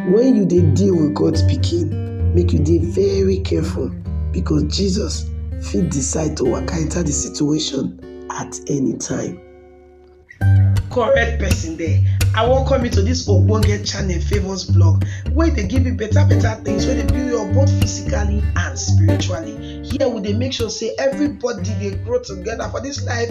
When you dey deal with God's pikin, make you dey very careful because Jesus fit decide to waka enter the situation at any time. correct person there i welcome you to this ogbonge channel favours blog wey dey give you better better things wey dey build you up both physically and spiritually here we dey make sure say everybody dey grow together for this life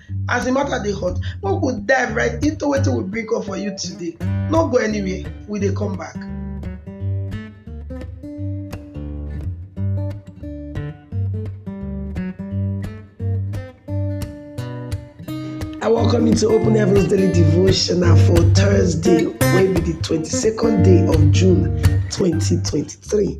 As the matter dey hot, make we dive right into wetin we bring come for you today. No go anywhere, we dey come back. I welcome you to Open Heavens Daily Devotional for Thursday, wey be the 22nd day of June 2023.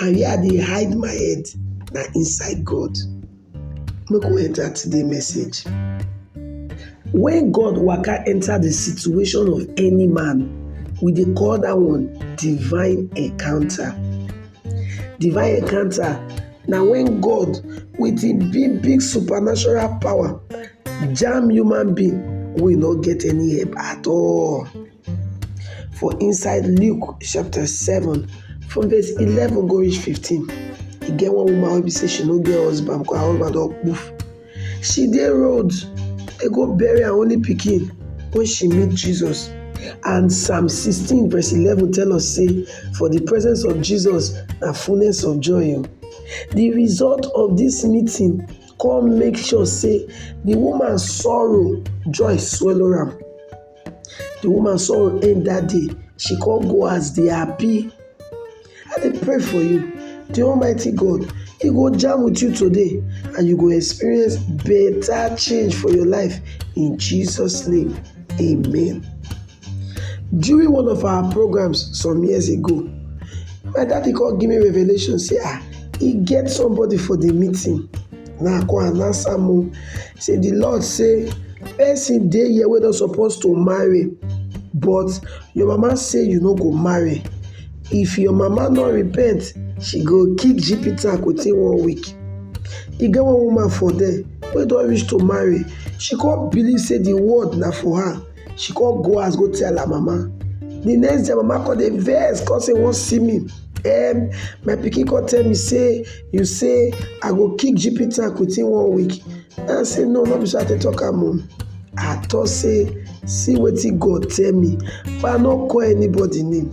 And where I dey hide my head na inside God. Make we enter today message. When God waka enter the situation of any man, we dey call that one divine encounter. Divine encounter na when God with im big big supernatural power jam human being wey no get any help at all. For inside Luke chapter seven from verse eleven go reach fifteen, e get one woman wey be sey she no get husband because her husband don kpuf. She dey road dey go bury her only pikin wen she meet Jesus and psalm sixteen verse eleven tell us sey for de presence of Jesus na fullness of joy oo. De result of dis meeting come make sure sey de woman sorrow joy swallow am. The woman sorrow end that day, she come go house dey happy. I dey pray for you, the almighty God he go jam with you today and you go experience better change for your life in Jesus name, amen. During one of our programs some years ago, my daddy come give me revelation say ah, e get somebody for the meeting Na I come and answer am o sey de law sey person dey here wey don suppose to marry but your mama sey you no go marry if your mama no repent she go kick jipitac within one week. E get one woman for there wey don reach to marry she come believe sey de world na for her. She come go house go tell her mama. The next day, her mama come dey vex, come say wan see me. Um, my pikin come tell me say you say I go kick GP tank within one week. I say no, no be so I take talk am o. I talk say see wetin God tell me, but I no call anybody name.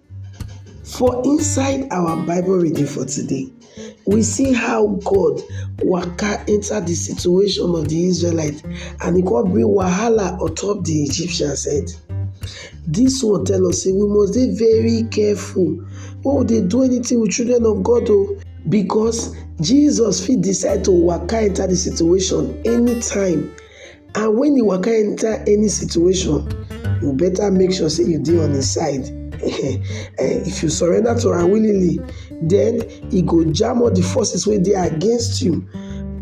For inside our bible reading for today, we see how God waka enter de situation of de Israelite and e come bring wahala on top de Egyptians head. Dis one tell us sey we must dey very careful wen we dey do anything with children of God oo because Jesus fit decide to waka enter de situation anytime And when you waka enter any situation, you better make sure say you dey on his side. Eh, if you surrender to am willingly, then he go jam all the forces wey dey against you.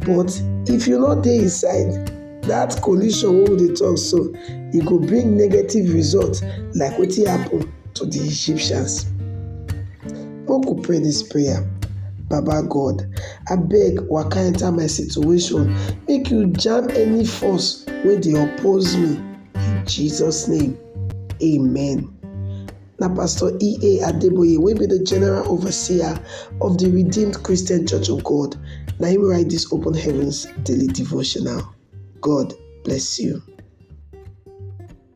But if you no dey his side, that collision wey we dey talk so, e go bring negative result like wetin happen to the Egyptians. Make we pray dis prayer. Baba God, abeg waka enter my situation, make you jam any force wey dey oppose me in Jesus name, amen. Na Pastor E.A. Adeboye wey be the General Overseer of the Redeemed Christian Church of God na him write this Open Heavens Daily Devotional. God bless you.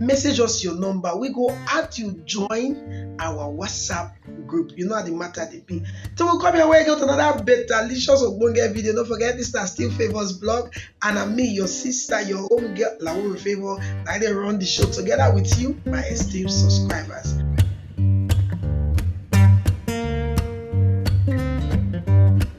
message us your number we go add you join our whatsapp group you know how the matter dey be till we come your way get another better licious ogbonge video no forget this na still favours blog and na me your sister your own girl lawore favour na i dey run the show together with you my esteemed subscribers